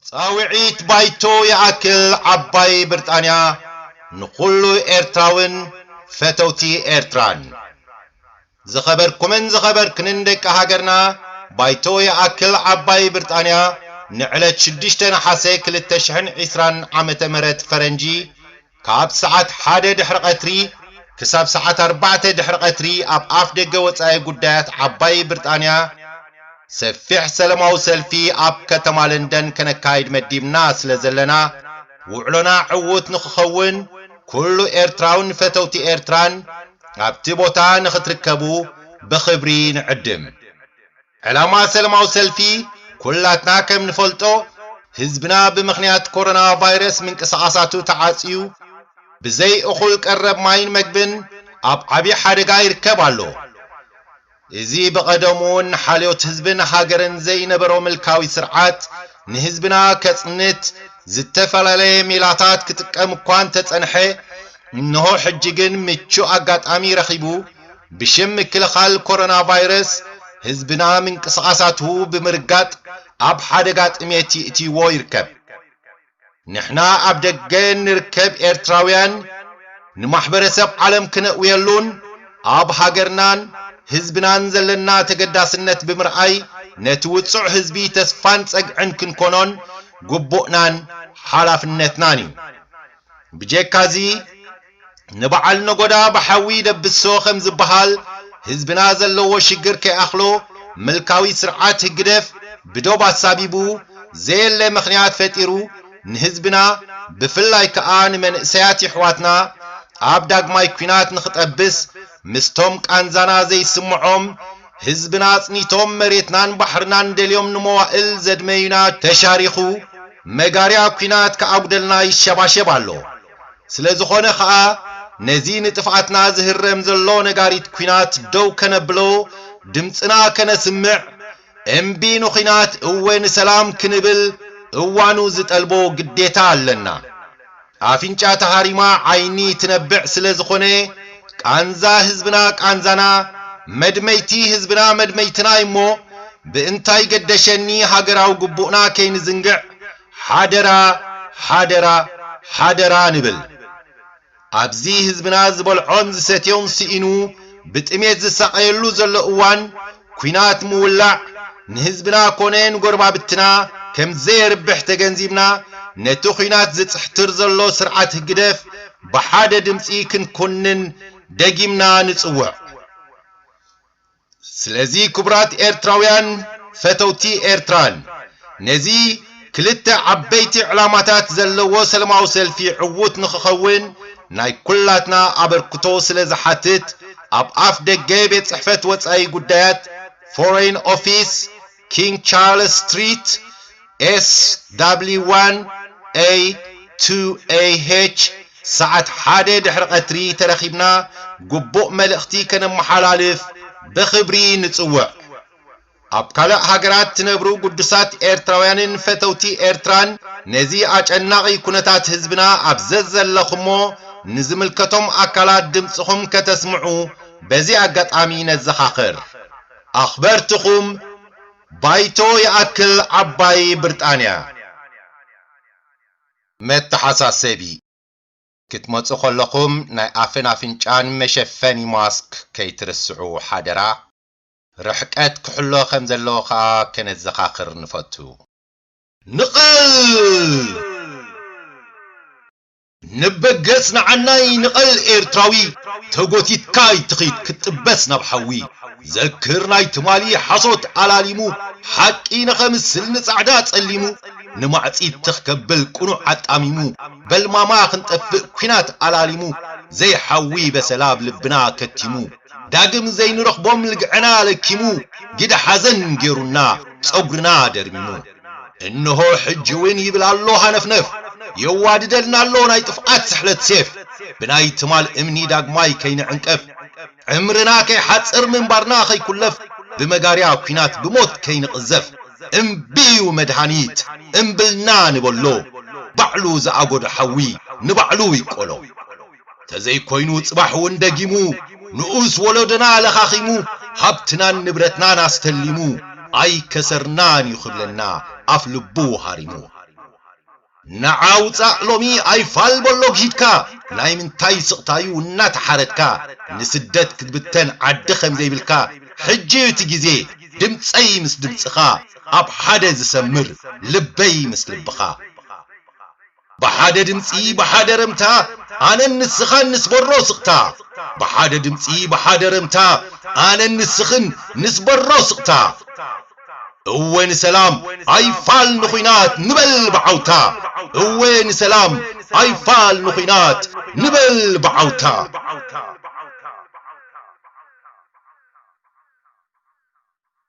ጻውዒት ባይቶ ይኣክል ዓባይ ብርጣንያ ንኹሉ ኤርትራውን ፈተውቲ ኤርትራን። ዝኸበርኩምን ዝኸበርክንን ደቂ ሃገርና ባይቶ ይኣክል ዓባይ ብርጣንያ ንዕለት ሽዱሽተ ነሓሰ ክልተ ሽሕን ዒስራን ዓመተ ምህረት ፈረንጂ ካብ ሰዓት ሓደ ድሕሪ ቐትሪ ክሳብ ሰዓት ኣርባዕተ ድሕሪ ቐትሪ ኣብ ኣፍ ደገ ወጻኢ ጉዳያት ዓባይ ብርጣንያ ሰፊሕ ሰለማዊ ሰልፊ ኣብ ከተማ ለንደን ከነካይድ መዲብና ስለ ዘለና ውዕሎና ዕዉት ንኽኸውን ኩሉ ኤርትራውን ፈተውቲ ኤርትራን ኣብቲ ቦታ ንኽትርከቡ ብኽብሪ ንዕድም። ዕላማ ሰለማዊ ሰልፊ ኩላትና ከም ንፈልጦ ህዝብና ብምኽንያት ኮሮና ቫይረስ ምንቅስቓሳቱ ተዓጽዩ ብዘይ እኹል ቀረብ ማይን መግብን ኣብ ዓብዪ ሓደጋ ይርከብ ኣሎ። እዚ ብቐደሙ እውን ሓልዮት ህዝብን ሃገርን ዘይነበሮ ምልካዊ ስርዓት ንህዝብና ከጽንት ዝተፈላለየ ሜላታት ክጥቀም እኳ እንተጸንሐ እንሆ ሕጂ ግን ምቹእ ኣጋጣሚ ረኺቡ ብሽም ምክልኻል ኮሮና ቫይረስ ህዝብና ምንቅስቓሳቱ ብምርጋጥ ኣብ ሓደጋ ጥሜት ይእትይዎ ይርከብ። ንሕና ኣብ ደገ እንርከብ ኤርትራውያን ንማሕበረሰብ ዓለም ክነእውየሉን ኣብ ሃገርናን ህዝብናን ዘለና ተገዳስነት ብምርኣይ ነቲ ውጹዕ ህዝቢ ተስፋን ጸግዕን ክንኮኖን ግቡእናን ሓላፍነትናን እዩ። ብጀካዚ፣ ንበዓል ነጎዳ ብሓዊ ይደብሶ ከም ዝበሃል ህዝብና ዘለዎ ሽግር ከይኣኽሎ ምልካዊ ስርዓት ህግደፍ ብዶብ ኣሳቢቡ ዘየለ ምኽንያት ፈጢሩ ንህዝብና ብፍላይ ከኣ ንመንእሰያት የሕዋትና ኣብ ዳግማይ ኩናት ንኽጠብስ ምስቶም ቃንዛና ዘይስምዖም ህዝብና ኣጽኒቶም መሬትናን ባሕርናን ደልዮም ንመዋእል ዘድመዩና ተሻሪኹ መጋርያ ኩናት ከኣጉደልና ይሸባሸብ ኣሎ። ስለዝኾነ ከኣ ነዚ ንጥፍኣትና ዝህረም ዘሎ ነጋሪት ኩናት ደው ከነብሎ ድምጽና ከነስምዕ እምቢ ንኹናት እወ ንሰላም ክንብል እዋኑ ዝጠልቦ ግዴታ ኣለና። ኣፍንጫ ተሃሪማ ዓይኒ ትነብዕ ስለዝኾነ ቃንዛ ህዝብና ቃንዛና መድመይቲ ህዝብና መድመይትና'ዩሞ ብእንታይ ገደሸኒ ሃገራዊ ግቡእና ከይንዝንግዕ ሓደራ ሓደራ ሓደራ ንብል ኣብዚ ህዝብና ዝበልዖን ዝሰትዮን ስኢኑ ብጥሜት ዝሳቐየሉ ዘሎ እዋን ኩናት ምውላዕ ንህዝብና ኮነ ንጎረባብትና ከም ዘየርብሕ ተገንዚብና ነቲ ኩናት ዝጽሕትር ዘሎ ስርዓት ህግደፍ ብሓደ ድምጺ ክንኩንን ደጊምና ንጽውዕ። ስለዚ ክቡራት ኤርትራውያን ፈተውቲ ኤርትራን ነዚ ክልተ ዓበይቲ ዕላማታት ዘለዎ ሰለማዊ ሰልፊ ዕዉት ንኽኸውን ናይ ኩላትና ኣበርክቶ ስለ ዝሓትት ኣብ ኣፍ ደገ ቤት ጽሕፈት ወጻኢ ጉዳያት፣ Foreign Office፣ ኪንግ ቻርለስ ስትሪት፣ SW1A2AH፣ ሰዓት ሓደ ድሕሪ ቐትሪ ተረኺብና ግቡእ መልእኽቲ ከነመሓላልፍ ብኽብሪ ንጽውዕ። ኣብ ካልእ ሃገራት ትነብሩ ግዱሳት ኤርትራውያንን ፈተውቲ ኤርትራን ነዚ ኣጨናቒ ኩነታት ህዝብና ኣብ ዘዘለኹሞ ንዝምልከቶም ኣካላት ድምጽኹም ከተስምዑ በዚ ኣጋጣሚ ነዘኻኽር። ኣኽበርትኹም ባይቶ ይኣክል ዓባይ ብርጣንያ። መተሓሳሰቢ፣ ክትመጹ ከለኹም ናይ ኣፍን ኣፍንጫን መሸፈኒ ማስክ ከይትርስዑ ሓደራ፣ ርሕቀት ክሕሎ ከም ዘለዎ ከኣ ከነዘኻኽር ንፈቱ። ንቐል! ንበገጽ ንዓናይ ንቐል ኤርትራዊ ተጎቲትካ ኣይትኺድ ክትጥበስ ናብ ሓዊ ዘክር ናይ ትማሊ ሓሶት ኣላሊሙ ሓቂ ንኸምስል ንጻዕዳ ጸሊሙ ንማዕጺድ ትኽ ከብል ቁኑዕ ኣጣሚሙ በልማማ ክንጠፍእ ኩናት ኣላሊሙ ዘይሓዊ በሰላ ኣብ ልብና ከቲሙ ዳግም ዘይንረኽቦም ልግዕና ለኪሙ ግደ ሓዘን ጌሩና ጸጉርና ደርሚሙ እንሆ ሕጂውን ይብል ኣሎ ሃነፍነፍ የዋድደልና ኣሎ ናይ ጥፍኣት ስሕለት ሴፍ ብናይ ትማል እምኒ ዳግማይ ከይንዕንቀፍ ዕምርና ከይሓጽር ምንባርና ከይኩለፍ ብመጋርያ ኩናት ብሞት ከይንቕዘፍ እምቢ እዩ መድሃኒት እምብልና ንበሎ ባዕሉ ዝኣጎዶ ሓዊ ንባዕሉ ይቆሎ። ተዘይኮይኑ ጽባሕ ውን ደጊሙ ንኡስ ወሎዶና ለኻኺሙ ሃብትናን ንብረትናን ኣስተሊሙ ኣይከሰርናን ዩ ክብለና ኣፍ ልቡ ሃሪሙ ንዓ ውጻእ ሎሚ ኣይፋል በሎ ጊሂድካ ናይ ምንታይ ስቕታ ዩ እናተሓረድካ ንስደት ክትብተን ዓዲ ከምዘይብልካ ሕጂ ዩ እቲ ግዜ ድምጸይ ምስ ድምጽኻ ኣብ ሓደ ዝሰምር ልበይ ምስ ልብኻ። ብሓደ ድምጺ ብሓደ ረምታ ኣነን ንስኻን ንስበሮ ስቕታ ብሓደ ድምጺ ብሓደ ረምታ ኣነን ንስኽን ንስበሮ ስቕታ እወ ንሰላም ኣይፋል ንኹናት ንበል ብዓውታ እወ ንሰላም ኣይፋል ንኹናት ንበል ብዓውታ።